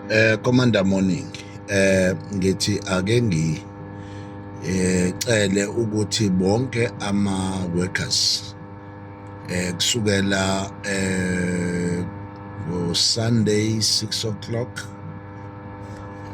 Eh Commander Morning eh ngithi ake ngi eh cele ukuthi bonke ama workers eh kusukela eh ngo Sunday 6 o'clock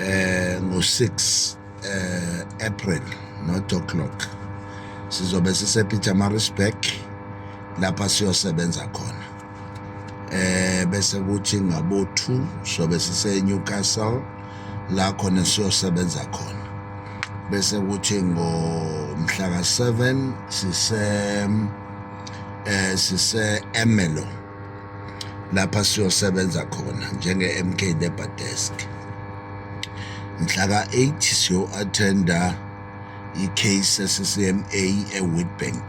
eh ngo 6 eh April not o'clock sizobe sise Pietermaritzburg lapha siyosebenza khona eh bese kuthi ngabo 2 sobe sise Newcastle la khona siyosebenza khona bese kuthi ngomhla ka 7 sise eh sise Emelo lapha siyosebenza khona njenge MK Deba Desk mhla ka 8 siyo attenda i-case eCCMA eWitbank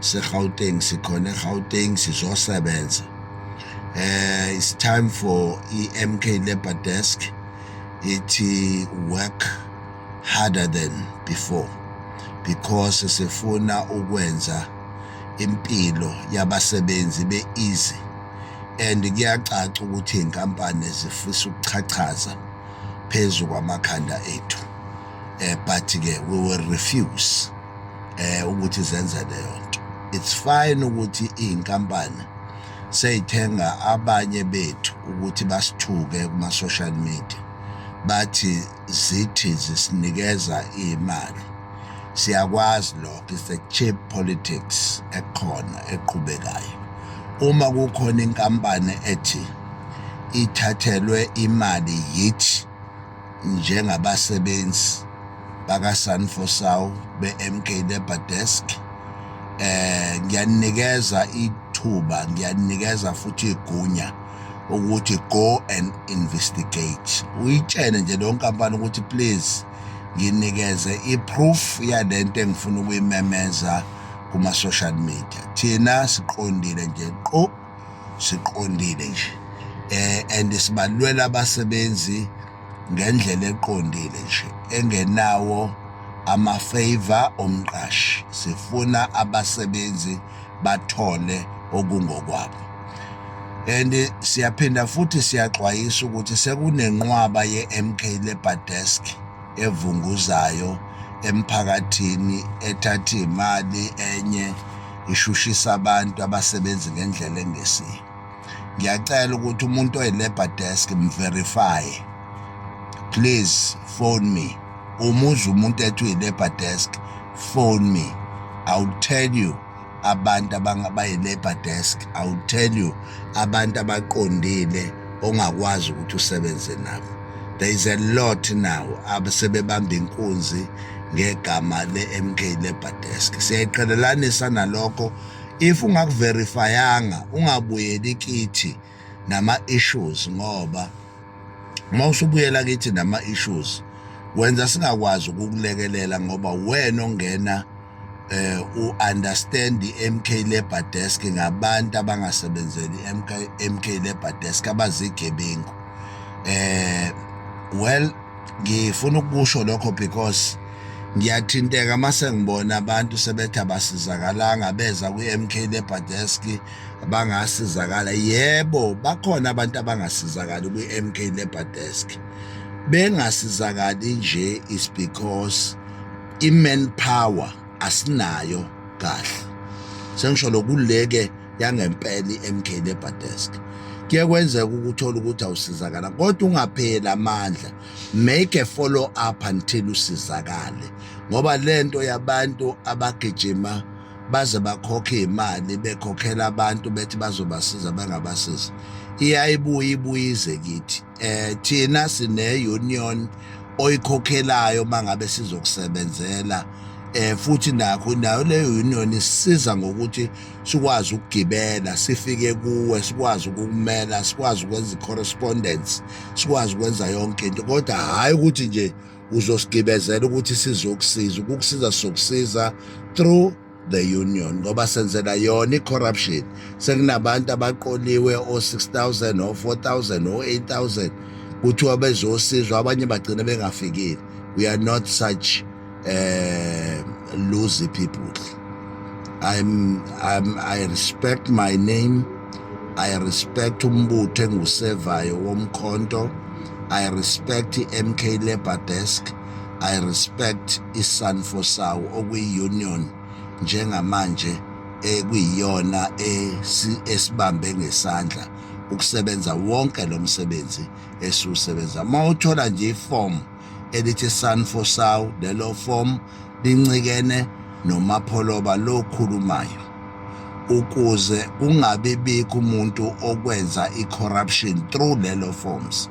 seGauteng sikhona eGauteng sizosebenza eh it's time for iMK Labor Desk ithi work harder than before because sifuna ukwenza impilo yabasebenzi be easy and kuyacaca ukuthi inkampani zifisa ukuchachaza phezu kwamakhanda ethu eh but ke we will refuse eh ukuthi zenze leyo nto it's fine ukuthi izinkampani seyithenga abanye bethu ukuthi basithuke kuma social media bathi zithi zisinikeza imali siyakwazi lokho it's a cheap politics ekhona eqhubekayo uma kukhona inkampani ethi ithathelwe imali yithi njengabasebenzi bakaSanfosau be-MK Labour Desk eh ngiyaninikeza ithuba ngiyaninikeza futhi igunya ukuthi go and investigate uyitshene nje leyo nkampani ukuthi please nginikeze i-proof yalento engifuna ukuyimemeza kuma-social media thina siqondile nje qo siqondile nje eh and sibalwela abasebenzi ngendlela eqondile nje engenawo ama favor omqashi sifuna abasebenzi bathole okungokwabo and siyaphinda futhi siyaxwayisa ukuthi sekunenqwaba ye-MK Labour Desk evunguzayo emphakathini ethatha imali enye ishushisa abantu abasebenzi ngendlela engesiyo ngiyacela ukuthi umuntu oyi-labor desk mverifye please phone me uma uza umuntu ethi uyi-labor desk phone me i will tell you abantu abayi-labor desk i will tell you abantu abaqondile ongakwazi ukuthi usebenze nabo there is a lot now abasebebamba inkunzi ngegama le-mk lebadesk siyayiqhelelanisa nalokho if ungakuverifyanga ungabuyeli kithi nama-issues ngoba uma usubuyela kithi nama-issues wenza singakwazi ukukulekelela ngoba wena ongena eh u-understand i-MK Labour Desk ngabantu abangasebenzeli i-MK MK Labour Desk abazigebengu eh well ngifuna ukusho lokho because ngiyathinteka uma sengibona abantu sebethi abasizakalanga beza kwi-MK Labour Desk bangasizakala yebo bakhona abantu abangasizakali kwi-MK Labour Desk bengasizakali nje is because i-man power asinayo kahle sengisho lokuleke yangempela i-MK Labour Desk kuye kwenzeka ukuthola ukuthi awusizakala kodwa ungapheli amandla make a follow up until usizakale ngoba lento yabantu abagijima baze bakhokhe imali bekhokhela abantu bethi bazobasiza bangabasiza iyayibuya ibuyize kithi eh thina sine union oyikhokhelayo mangabe sizokusebenzela eh futhi nakho nayo le union isiza ngokuthi sikwazi ukugibela sifike kuwe sikwazi ukumela sikwazi ukwenza correspondence sikwazi ukwenza yonke into kodwa hayi ukuthi nje uzosigibezela ukuthi sizokusiza ukukusiza sokusiza through the union ngoba senzela yona i-corruption sekunabantu abaqoliwe o-6000 o-4000 o-8000 kuthiwa bezosizwa abanye bagcine bengafikile we are not such uh, eh, loosy people I'm, I'm, i respect my name i respect umbutho engusevayo womkhonto i respect i-mk labour desk I respect iSanfo sawo okuyiUnion njengamanje ekuyiyona esibambe ngesandla ukusebenza wonke lo msebenzi esiwusebenza uma uthola nje iform elithi Sanfo sawo lelo form lincikene nomapholoba lokhulumayo ukuze kungabibikho umuntu okwenza i-corruption through lelo forms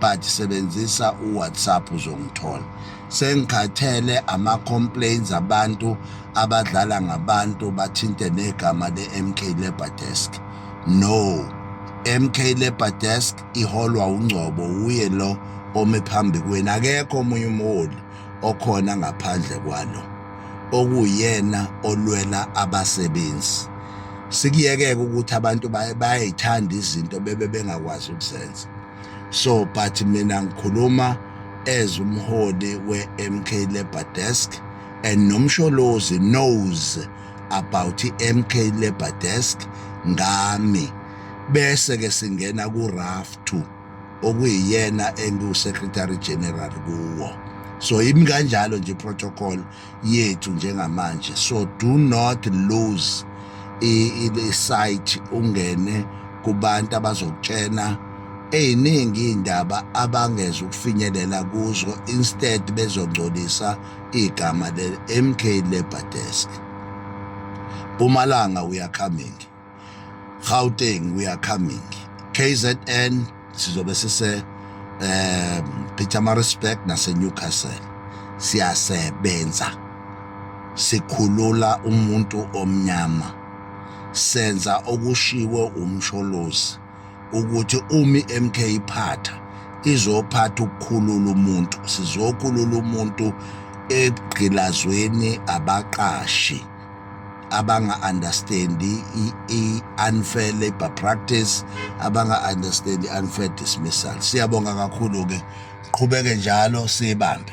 but sebenzisa uwhatsapp uzongithola sengikhathele ama-complaints abantu abadlala ngabantu bathinte negama le-mk labour desk no mk labour desk iholwa ungcobo wuye lo ome phambi kwenu akekho omunye umholi okhona ngaphandle kwalo okuyena olwela abasebenzi sikuyekeke ukuthi abantu bayayithanda izinto bebe bengakwazi ukuzenza so but mina ngikhuluma as umholi we-mk labour desk and nomsholozi knows about i-mk labour desk ngami bese-ke singena ku-raf 2 okuyiyena engiwusecretary general kuwo so imi kanjalo nje protocol yethu njengamanje so do not lose i-site ungene kubantu abazokutshena eziningi iy'ndaba abangeza ukufinyelela kuzo instead bezongcolisa igama le-mk labour desk mpumalanga we are coming Gauteng we are coming KZN sizobe sise eh Pietermaritzburg nase Newcastle siyasebenza sikhulula umuntu omnyama senza okushiwo umsholozi ukuthi umi MK iphatha izophatha ukukhulula umuntu sizokhulula umuntu egqilazweni abaqashi abanga-understandi i-unfair labor practice abanga-understandi i-unfair dismissal siyabonga kakhulu-ke qhubeke njalo siyibambe